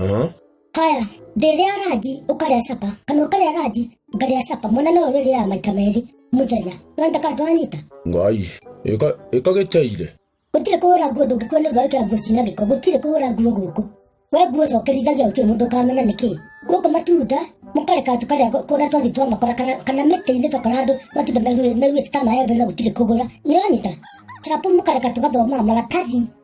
Eh? haya ndĩrĩa ranji ũkarĩa capa kana ũkarĩa ranji ngarĩa capa mwana no ũrĩrĩaga maita merĩ mũthenya nanda kandu wanyita Ngai. Ĩka ĩka gĩteire. gũtirĩ kũhũra nguo ndũngĩkuo nĩ ũndũ wa gwĩkĩra nguo cina gĩko gũtirĩ kũhũra nguo gũkũ we nguo cokerithagia gũtirĩ mũndũ ũkamenya nĩ kĩĩ gũkũ matunda mũkareka tũkarĩa kũrĩa twathiĩ twamakora kana kana mĩtĩ-inĩ twakora andũ matunda meruĩte ta maembe na gũtirĩ kũgũra nĩ wanyita capu mũkareka tũgathomaga maratathi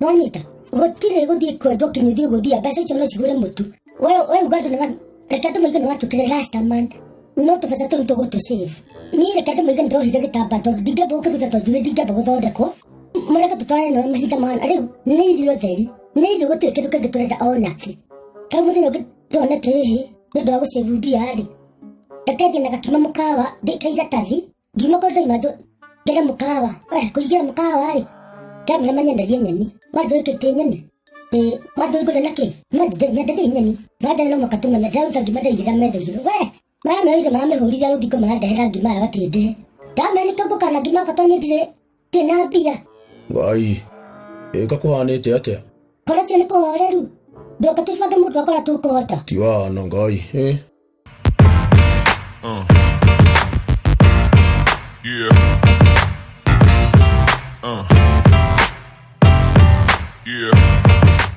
mwanyita gutire guthie kwendwo kinyu thie guthia mbeca icio no cigure mutu we we uga andu niwa reke andu maigana watukire last man no tubasa turu tugutu save ni reke andu maigana ndohire gitamba tondu ndingeba gukiruta tondu ni ndingeba guthondekwo mureke tutware no mahinda mana riu ni irio theri ni irio gutire kindu kingi turenda ona ki kau muthenya ungi tuone tihi ni ndu wa gucave mbia ri reke thie na gakima mukawa ndikaira tathi ngiuma kũrĩ ndai manjũ ngere mũkawa we kũingĩra mũkawa rĩ ndamĩra manyendagie nyeni manjũ ĩkĩtie nyeni ĩ manjũ ngũrĩa na kĩ manjũ nyenderie nyeni manjũ no mũka tũmenya ndaruta ngima ndaigĩra metha igũrũ we maramĩoire maramĩhũrithia rũthingo marandehera ngima ya gatĩndĩhe ndamenya nĩtũmbũkana ngima yakwa tondũ niĩ ndirĩ Tinapia. Ngai. Ĩka kũhanĩte atĩa? Kora cio nĩ kũhoreru. Ndoka tũibange mũndũ akora tũkũhota. Ti wahana Ngai. Eh. Uh. Yeah. Uh. Yeah.